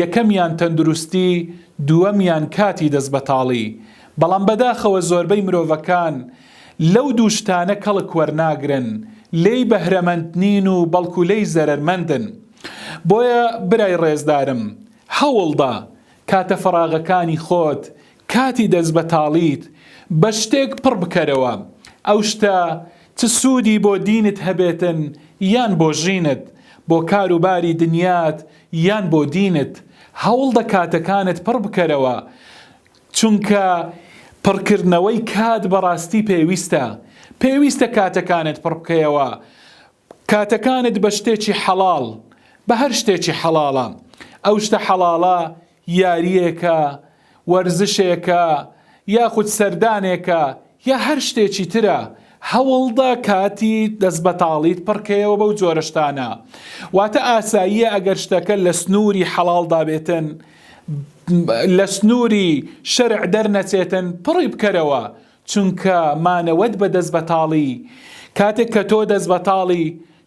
یەکەمیان تەندروستی، دووەمیان کاتی دەستبەتاڵی. بەڵام بەداخەوە زۆربەی مرۆڤەکان لەو دوو شتانە کەڵک وەرناگرن، لێی بەهرەمەند نین و بەڵکو لێی زەرەرمەندن. بۆیە برای ڕێزدارم، هەوڵدە کاتە فەراغەکانی خۆت کاتی دەست بەتاڵیت بە شتێک پڕ بکەرەوە ئەو شتە چ سوودی بۆ دینت هەبێتن یان بۆ ژینت بۆ کار و باری دنیات یان بۆ دینت هەوڵدە کاتەکانت پڕ بکەرەوە چونکە پڕ کردنەوەی کات بەڕاستی پێویستە پێویستە کاتەکانت پڕ بکەیەوە کاتەکانت بە شتێکی حەڵاڵ بە هەر شتێکی حەڵاڵە ئەو شتە حەڵاڵە یارییەکە، وەرزشێکە، یاخود سەردانێکە، یا هەر شتێکی ترە، هەوڵدە کاتی دەستبەتاڵیت پڕکەیەوە بەو جۆرە شتانە. واتە ئاساییە ئەگەر شتەکە لە سنووری حەڵاڵدا بێتن، لە سنووری شەرع دەرنەچێتن، پڕی بکەرەوە، چونکە مانەوەت بە دەست بەتاڵی کاتێک کە تۆ دەست بەتاڵی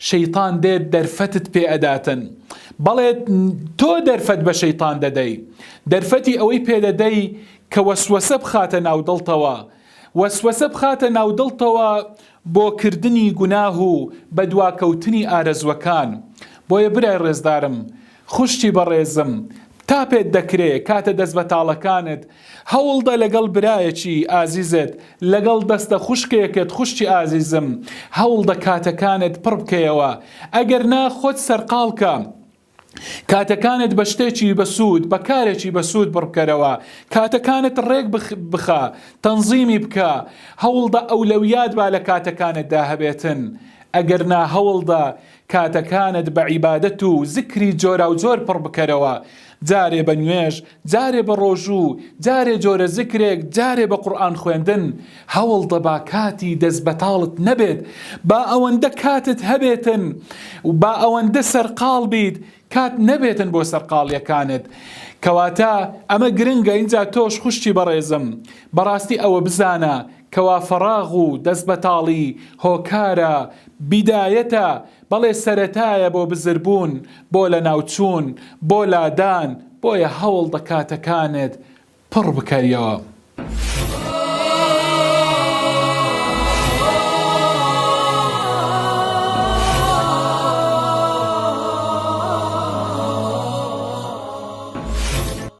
شەیتان دێت دەرفەتت پێ ئەداتن بەڵێ تۆ دەرفەت بە شەیتان دەدەی دەرفەتی ئەوەی پێ دەدەی کە وەسوەسە بخاتە ناو دڵتەوە وەسوەسە بخاتە ناو دڵتەوە بۆ کردنی گوناه و بەدواکەوتنی ئارەزوەکان بۆیە برای ڕێزدارم خوشکی بەڕێزم تا پێت دەکرێ کاتە دەست بەتاڵەکانت هەوڵدە لەگەڵ برایەکی ئازیزت لەگەڵ دەستە خوشکێکت خوشکی ئازیزم هەوڵدە کاتەکانت پڕ بکەیەوە ئەگەر نا خۆت سەرقاڵ کە کاتەکانت بە شتێکی بەسوود بە کارێکی بەسوود بڕبکەرەوە کاتەکانت ڕێک بخە تەنزیمی بکە هەوڵدە ئەولەویات با لە کاتەکانتدا هەبێتن ئەگەر نا هەوڵدە کاتەکانت بە عیبادەت و زیکری جۆراوجۆر پڕ بکەرەوە، جارێ بە نوێژ، جارێ بە ڕۆژوو، جارێ جۆرە زیکرێک، جارێ بە قورئان خوێندن، هەوڵدە با کاتی دەستبەتاڵت نەبێت، با ئەوەندە کاتت هەبێتن، با ئەوەندە سەرقاڵ بیت کات نەبێتن بۆ سەرقاڵیەکانت کەواتە ئەمە گرنگە ئینجا تۆش خوشکی بەڕێزم بەڕاستی ئەوە بزانە کەوا فەڕاغ و دەست بەتاڵی هۆکارە بیدایەتە بەڵێ سەرەتایە بۆ بزربوون بۆ لەناوچوون بۆ لادان بۆیە هەوڵ بە کاتەکانت پڕ بکەریەوە.